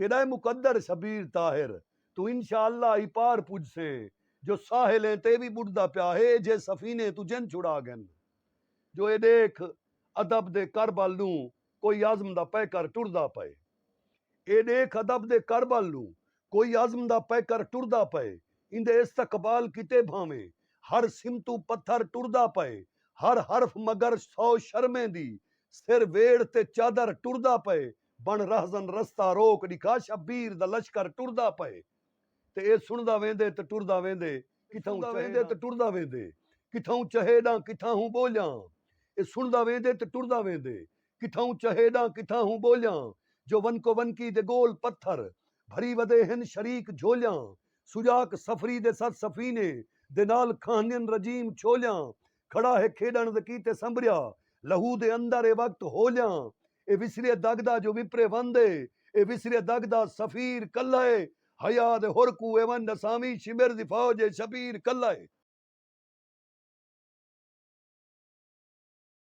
تیݙا اے مقدر شبیر طاہر توں انشاء اللہ ای پار پجسیں جو ساحل ایں تے وی ٻݙدا پیا ہے ایجھے سفینے توں جن چھڑا ڳن جو اے ݙیکھ ادب دے کربل ݙوں کوئی عزم دا پیکر ٹردا پئے اے ݙیکھ ادب دے کربل ݙوں کوئی عزم دا پیکر ٹردا پئے ایندے استقبال کیتے بھانویں ہر سمتوں پتھر ٹردا پئے ہر حرف مگر سو شرمیں دی سر ویڑھ تے چادر ٹردا پئے بݨ رہزن رستہ روک ݙکھا شبیر دا لشکر ٹردا پئے تے اے سݨدا ویندے تے ٹردا ویندے کتھاؤں چہے ویندے تے ٹردا ویندے کتھاؤں چہے ݙاں کتھاہوں ٻولیاں اے سݨدا ویندے تے ٹردا ویندے کتھاؤں چہے ݙاں کتھاہوں ٻولیاں جو ونکو ونکی دے ڳول پتھر بھری ودے ہن شریک جھولیاں سجاک سفری دے ست سفینے دے نال کھاہنین رجیم چھولیاں کھڑا ہے کھیݙݨ دے کیتے سنبریا لہو دے اندر اے وقت ہولیاں اے وسریے دڳ دا جو وپرے وند اے اے وسریے دڳ دا سفیر کلھا اے حیا دے حر کوں اے ونڄ ݙساویں شمر دی فوج اے شبیر کلھا اے۔